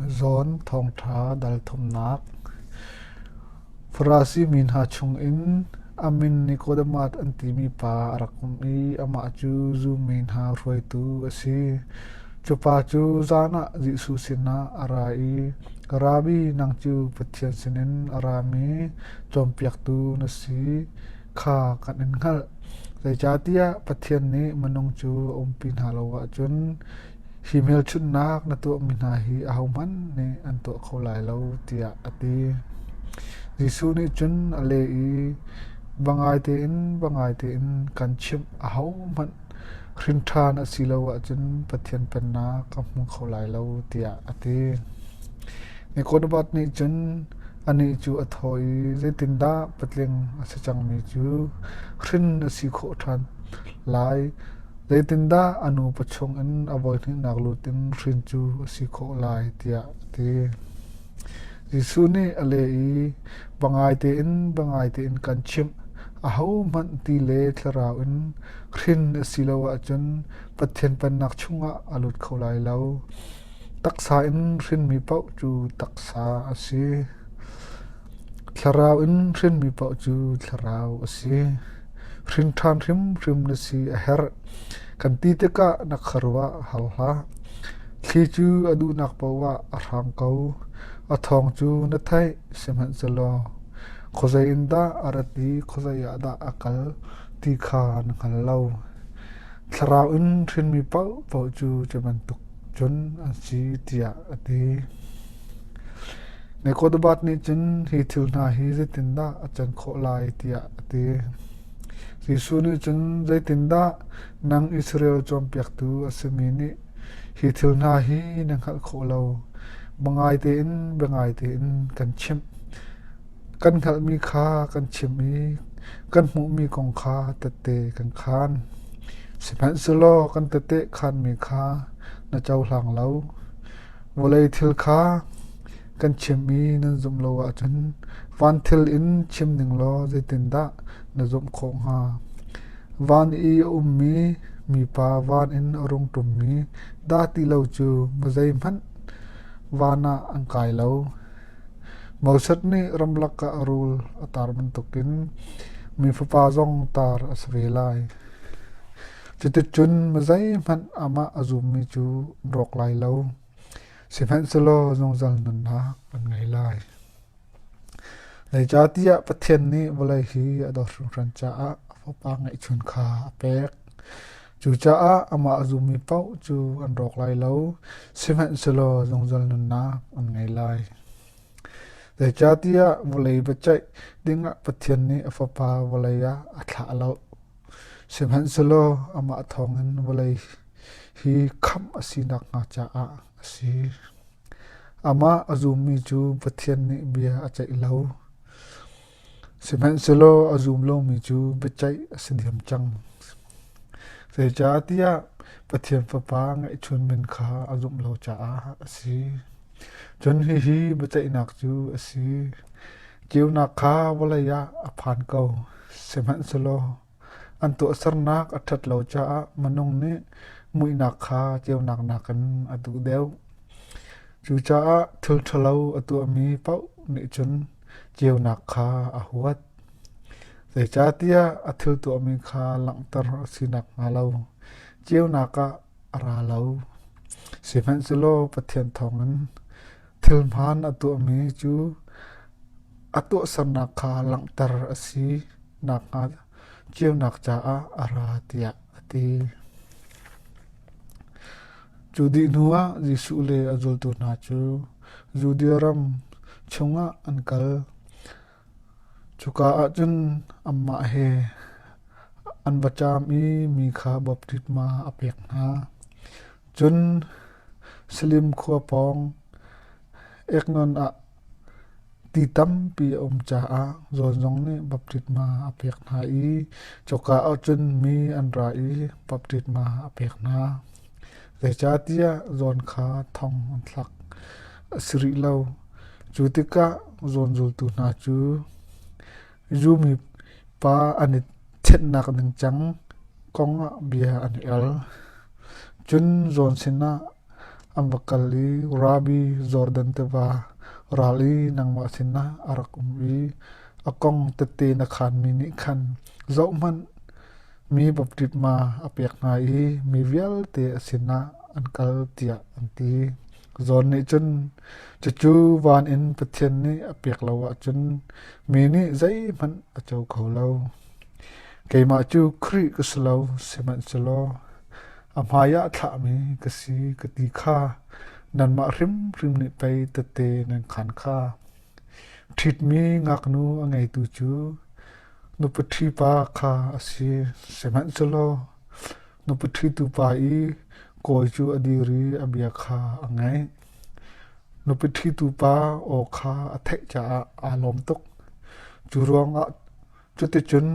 Zawn thawngṭha dalthumnak. Farasi mi hna chungin a min Nikodemath an timi pa a rak um i amah cu zu mi hna hruaitu a si. Cupa cu zan ah Jesuh sinah a ra i, Rabbi, nang cu Pathian sinin a rami cawnpiaktu na si kha kan in hngalh. Zeicahtiah Pathian nih minung cu a umpi hna lo ahcun hi hmelchunhnak na tuahmi hna hi ahohmanh nih an tuah kho lai lo tiah a ti. Jesuh nih cun a leh i va ngai tein va ngai tein kan chimh a hohmanh hrinṭhan a si lo ahcun Pathian pennak ka hmu kho lai lo tiah a ti. Nicodemus nih cun anih cu a thaw i zeitindah patling a si cangmi cu hrin a si khawh ṭhan lai Zeitindah a nupa chungin a voihnihnak lut in hrin cu a si khawh lai tiah a ti. Jesuh nih a leh i va ngai tein va ngai tein kan chimh. Ahohmanh ti le thlarau in hrin a si lo ahcun Pathian pennak chungah a lut kho lai lo. Taksa in hrinmi paoh cu taksa a si. Thlarau in hrinmi paoh cu thlarau a si. Hrin ṭhan hrimhrim na si a herh. Kan ti tikah na khuaruah a hau hlah. Thli cu a duhnak paohah a hrang ko. A thawng cu na theih, sihmanhsehlaw khuazei in dah a rat i khuazei ah dah a kal ti kha na hngal lo. Thlarau in hrinmi paohpaoh cu cu bantuk cun an si tiah a ti. Na kawtbat nih cun hi thil hna hi zeitindah a can khawh lai tiah a ti. Jesuh nih cun zeitindah nang Israel cawnpiaktu a simi nih hi thil hna hi na hngalh khawh lo? Ba ngai tein bia ngai tein kan chimh. Kan hngalhmi kha kan chim i kan hmuhmi kong kha tette kan khaan. Sihmanhsehlaw kan tete khaanmi kha na cohlang lo. Vawlei thil kha kan chim i nan zumh lo ahcun van thil in chim ning law zeitindah na zumh khawh hnga? Van i a ummi mipa van in a rung ṭummi dah ti lo cu mizeihmanh van ah an kai lo. Moses nih ramlak ah a rul a tar bantukin mi fapa zong tar a si ve lai. Cuticun zeihmanh amah a zummi cu an rawk lai lo, sihmanhsehlaw zungzal nunnak an ngei lai. Zeicahtiah Pathian nih vawlei hi a dawt hringhran caah a Fapa ngeihchun kha a pek. Cucaah amah a zummi paoh cu an rawk lai lo, sihmanhsehlaw zungzal nunnak an ngei lai. Zeicahtiah vawlei biaceih dingah Pathian nih a Fapa vawlei ah a thlah lo. Sihmanhsehlaw amah thawngin vawlei hi khamh a si nakhnga caah a si. Amah a zummi cu Pathian nih bia a ceih lo, sihmanhsehlaw a zum lomi cu biaceih a si diam cang. Zeicahtiah Pathian Fapa ngeihchun men kha a zumh lo caah a si. Cun hihi biaceihnak cu a si: Ceunak kha vawlei ah a phan ko, sihmanhsehlaw an tuahsernak a ṭhat lo caah minung nih muihnak kha ceunak nakin a duh deuh. Cucaah thil ṭhalo a tuahmi paoh nih cun ceunak kha a huat. Zeicahtiah a thil tuahmi kha langhter a si nakhnga lo ceunak ah a ra lo. Sihmanhsehlaw Pathian thawngin thilhmaan a tuahmi cu a tuahsernak kha langhter a si nakhnga ceunak caah a ra tiah a ti. Cu dih hnuah Jesuh le a zultu hna cu Judea ram chungah an kal. Cuka ah cun anmah he an va ṭam i mi kha baptisma a pek hna. Cun Salim khua pawng Eknon ah ti tampi a um caah zawn zong nih baptisma a pek hna i cuka ah cun mi an ra i baptisma a pek hna. Zeicahtiah zawn kha thong an thlak. a si rih lo. Cu tikah zawnzultu hna cu zu mipa an i chenhnak ningcang kong ah bia an i al. Cun zawn sinah an va kal i Rabbi Jordan tiva ral i nangmah sinah a rak um i a kong tete na khaanmi nih khan zohhmanh mi baptisma a pek hna i mi vialte a sinah an kal tiah an ti. Zawn nih cun, cucu van in Pathian nih a pek lo ahcun mi nih zeihmanh a co kho lo. Keimah cu Khrih ka si lo, sihmanhsehlaw a hmaiah thlahmi ka si ka ti kha nanmah hrimhrim nih pei tete nan khaan kha. Ṭhitmi ngaknu a ngeitu cu nupaṭhi pa kha a si, sihmanhsehlaw Nupa ṭhitu pa i kawi cu a dir i a bia kha a ngaih. Nupa ṭhitu pa aw kha a theih caah aa lawm tuk. Cu ruangah cuticun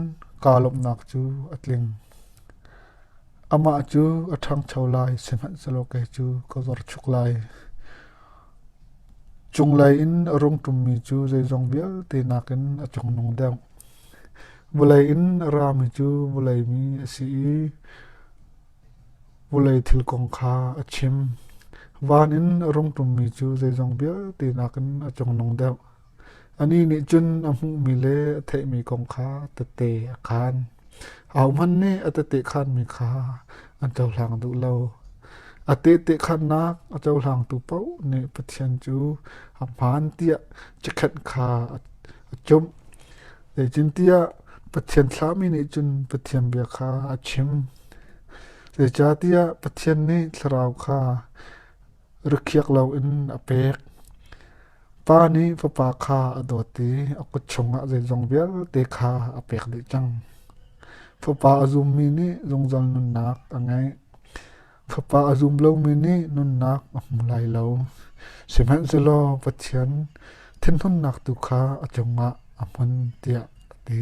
kaa lawmhnak cu a tling. Amah cu a ṭhangcho lai, sihmanhsehlaw kei cu ka zorchuk lai. Cunglei in a rung ṭummi cu zeizong vialte nakin a cungnung deuh. Vawlei in a rami cu vawlei mi a si i vawlei thil kong kha a chim. Van in a rung ṭummi cu zeizong vialte nakin a cungnung deuh. Anih nih cun a hmuhmi le a theihmi kong kha tete a khaan. Ahohmanh nih a tete khaanmi kha an cohlang duh lo. A tehte khaannak a cohlangtu paoh nih Pathian cu a hmaan tiah cikhenh kha a a ṭumh. Zeitintiah Pathian thlahmi nih cun Pathian bia kha a chim. Zeicahtiah Pathian nih thlarau kha rikhiak loin a pek. Pa nih Fapa kha a dawt i a kut chungah zeizong vialte kha a pek dih cang. Fapa a zummi nih zungzal nunnak a ngeih. Fapa a zum lomi nih nunnak a hmu lai lo, sihmanhsehlaw Pathian thinhunnak tu kha a cungah a hmun tiah a ti.